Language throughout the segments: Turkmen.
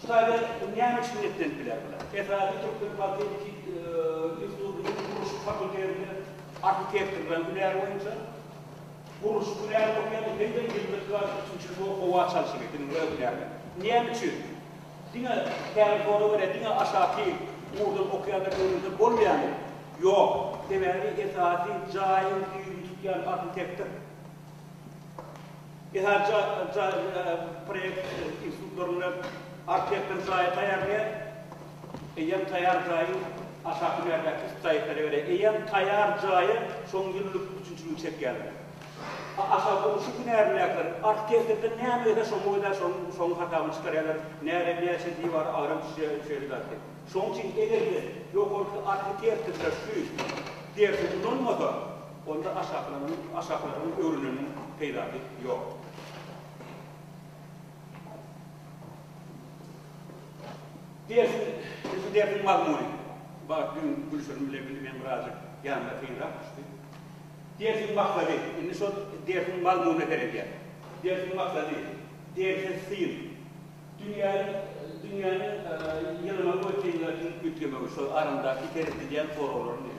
Şu taýda näme üçin niýetlenip biler bular? Esasy türkmen politehniki institutynyň gurluşyk fakultetinde arhitektorlaryň hünäri boýunça gurluşyk hünärini okaýarlar hem-de ýylda iki aýlyk üçünji ýyl bolup howa çalşygy bilen öz hünärlerini. Näme üçin diňe Kärihowa görä diňe aşaky ugurdan okaýanlar öwrense bolmaýarmy? Ýok. Sebäbi esasy jaýyň düýbüni tutýan arhitektor. Esasy proýekt institutlarynda arhitektor jaýy taýýarlaýar. Eýýäm taýýar jaýyň aşaky hünärdäki şikaýatlara görä, eýýäm taýýar jaýa şoň ýyllyk üpjünçiligi çekýärler. Aşa gurluşyk hünärindäkiler arhitektordan näme gelse şoňa görä şoň hasabyny çykarýarlar, närä näçe diwar agram düşýär şeýle zat diýip. Şoň üçin eger-de ýokarky arhitektorlar şu dersi ulanmasa, Onda aşaklaryň öwrüleniň peýdasy ýok. Dersiň, ilki dersiň mazmuny. Bagt düýn Gülşirin bilen bile meni birazjyk ýanyna kynrak düşdi. Dersiň maksady, indi şol dersiň mazmunyna seredýän. Dersiň maksady, derse syn. Dünýäniň, dünýäniň ýylymyň we synlaryň üýtgemegi, şol aramdaky seredilýän soraglaryň.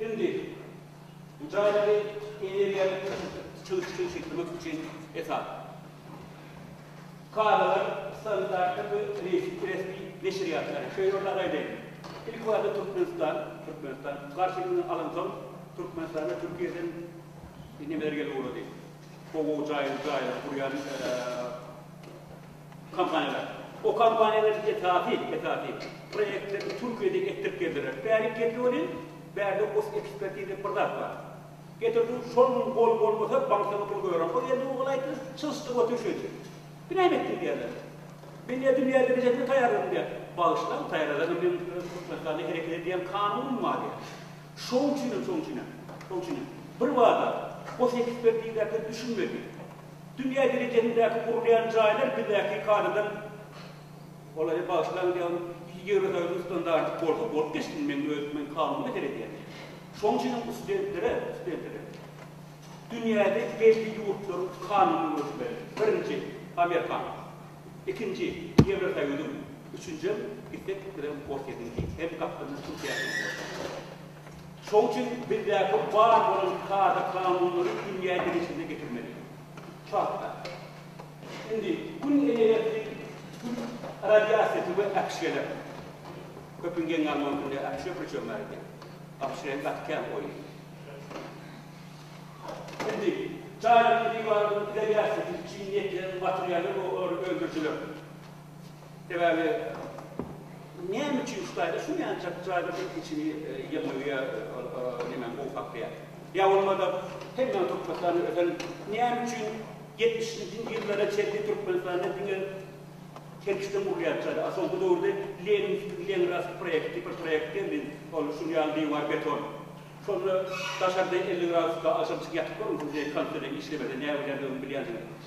Indi bu jaýlary energiýany çyzyp çygşytlamak üçin esas kadalar, standartlar we resmi neşirýatlary, şeýle hem agaýlaryň, ilki barada Türkmenistan, Türkmenistan, garşylygyny alansoň, Türkmenistana Türkiýeden nemeler gelip ugrady, gowy-gowy jaýlary gurýan. Kompaniýalar. O kompaniýalaryň esasy, esasy, proýektlerini Türkiýede etdirip geldiler. Bärik geldi welin, bärde os ekspert diýlip bir zat bar. Getirdiň, şol gün gol bolmasa, bankdan pul goýaram. Ol ýerde ogul aýtdy, çysdyp otur şeýdip. Bu näme etdiň diýerler. Men diýýär, dünýä derejesinde taýýarladym diýýär. Bagyşlaň, taýýarlasaňam men Türkmenistanda hereket edýän kanunum bar diýýär. Şoň üçinem, şoň üçinem, şoň üçinem birbada os ekspert diýilýärkä düşünmedik. Dünýä derejesindäki gurulýan jaýlar bizdäki kadadan Olary bagyşlaň diýýän iki Ýewrosoýuzyň standarty bolsa bolup geçsin meň öz men kanuna seredýän. Şoň üçin hem studentlere, studentlere dünýäde belli ýurtlaryň kanunyny görkezmeli. Birinji Amerikan, ikinji Ýewrosoýuzyň, üçünjem gitsek gitmesegem Orsýetiňki hem gapdalynda Türkiýäniň hem bolsa. Şoň üçin bizdäki bar bolan kada-kanunlary dünýä derejesine getirmeli. Şu hakda. Indi Gün energiýasy, Gün radiasiýasy we äpişgeler. Köpüň geň galmagy üçin indi äpişge köçem bar eken. Äpişge hem gaty kän goýdy. Indi jaýlaryň diwarynyň izolýasiýasy üçin netleriň materialy we olary öndürijiler. Sebäbi näme üçin şu taýda şunýançak jaýda bir kiçini ýygnagy ýa nemäni gowy saklaýar? Ýa bolmada hemmäň Türkmenistanda ösen näme üçin ýetmişinji ýyllara çenli Türkmenistanda diňe kerkişden gurulýan jaýda, a soňky döwürde Leninskiý Leningrad proýekti bir proýekt geldi, ol şul ýaly diwar beton. Şonda daşarda elli gradusda agşamçyk ýatyp görüň, şunça ýyl kondisioner işlemese näbilýändigini bilýänsiňiz.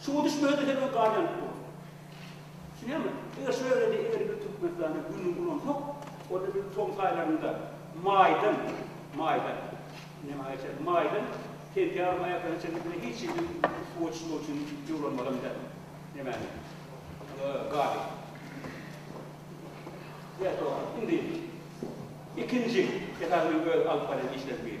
Suwa düşmege-de sebäp galýan ýok. Düşünýäňmi? Eger şu ýerde eger bir Türkmenistanda günüň ulansak, onda biz tomus aýlarynda, maýdan, maýdan, ine, maýa çenli, maýdan sentýabryň aýaklaryna çenli bize hiç hili suwa düşmek üçin ýuwlanmadan biler. Nemäni? Gazy. Ýa doga. Indi ikinji, esasy öz alyp barýan işlerimiz.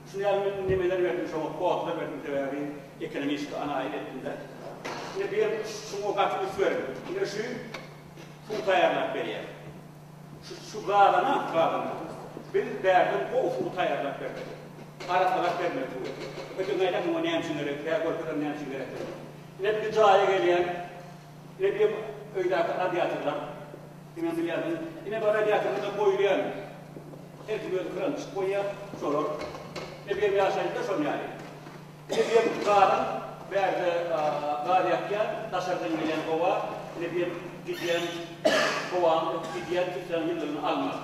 Şuny ýaly men nemeler berdim şoňa kodlar berdim sebäbi ekonomistiki analiz etdimde. Indi bir şuňa gaty üns berin. Indi şu pul taýýarlap berýär. Şu şu gazana gazana biz bärden gowy suw taýýarlap bermeli. Arasalap bermeli suwy. Öten aýdar muňa näme üçin gerek? Kä görkezem näme üçin gerekdigini. Ine bir jaýa gelýän. Eýýäm öýdäki radiatorlar diňe bilýärsiňiz. Ine bu radiatorymyza goýulýan. Her kim öz kranyny çykyp goýýar. Şolar. Ine bu ýerim ýaşaýjylar şonuň ýaly. Ine bu ýerim gazyň bärde gaz ýakýar. Daşardan gelýän howa. Ine bu ýerim gidýän howaň gidýän filtraň ýylylygyny almak.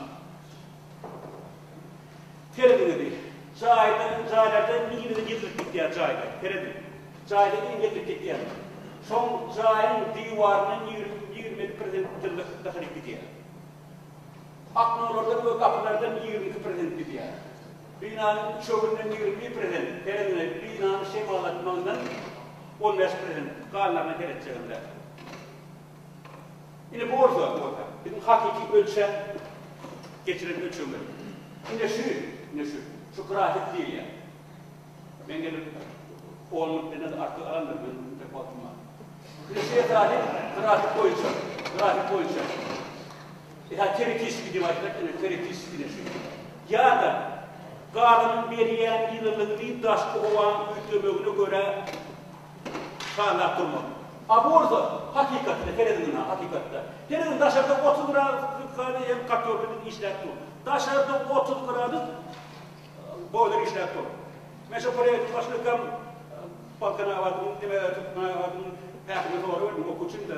Serediňizi. Jaýdan, jaýlardan iliňizi gezdirip gitýän jaýlar. Serediň. Jaýdan iliňi gezdirip gitýän. Şoň jaýyň diwaryndan ýigrimi, ýigrimi bäş prosent tylla sytda haryt gidýär. Oknolardan we gapylardan ýigrimi iki prosent gidýär. Binanyň üçeginden ýigrimi bir prosent, serediňiz, binany şemal atmagyndan on bäş prosent, galanlaryna seretjegimde. Indi bu bolsa, bu bolsa biziň hakyky ölçäp geçiren ölçeglerimiz. Ine şu, ine şu, şu grafik seriýa. Men gelip on minut menden artyk alandyr, meniň intek wagtym bar. Ine şu ekrany grafik boýunça, grafik boýunça. Ýa teoretiski diýip aýtsak, ine teoretiski ine şu. Ýa-da gazynyň berýän ýylylygyny daşky howanyň üýtgemegine görä Şanlap durmak. A bolsa, hakykatda, serediňiz ha, hakykatda. Serediň, daşarda otuz gradusda hem kartoflimiz işläp dur. Daşarda otuz gradus boýlar işläp dur. Men şo proýektiň başlykam Balkanabadyň, neme, Türkmenabadyň häkimine sorag berdim, okuw üçin-de.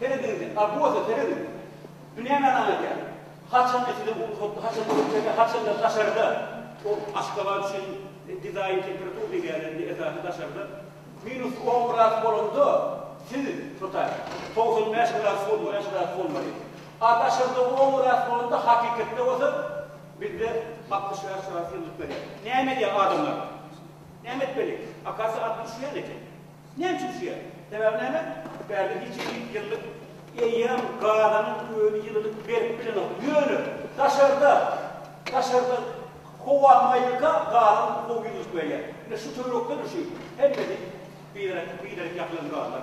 Serediň-de, Apoza, serediň! Bu nämäni aňladýar? Haçan içide bulut hopdy, haçan köçede, haçan-da daşarda. Ol Aşgabat üçin dizaýn temperatura diýýärler, esasy daşarda. Minus on gradus bolanda, siz, tutar, togsan bäş gradus bolmaly, bäş gradus bolmaly. A daşarda on gradus bolanda, hakykatda bolsa, bizde altmyş bäş gradus ýylylyk berýär. Näme edýär adamlar? Näme etmeli? Akasiýa atyp düşýän eken. Näme üçin düşýär? Sebäbi näme? Bärde hiç kim ýüz ýyllyk eýýäm gazanyň özi ýylylyk berip bilenok. Ýöne daşarda, daşarda howa maýylka gazyň gowy ýylylyk berýär. Ine şu töwerekde-de şu hemmesi biderek, biderek ýapylan gazlar.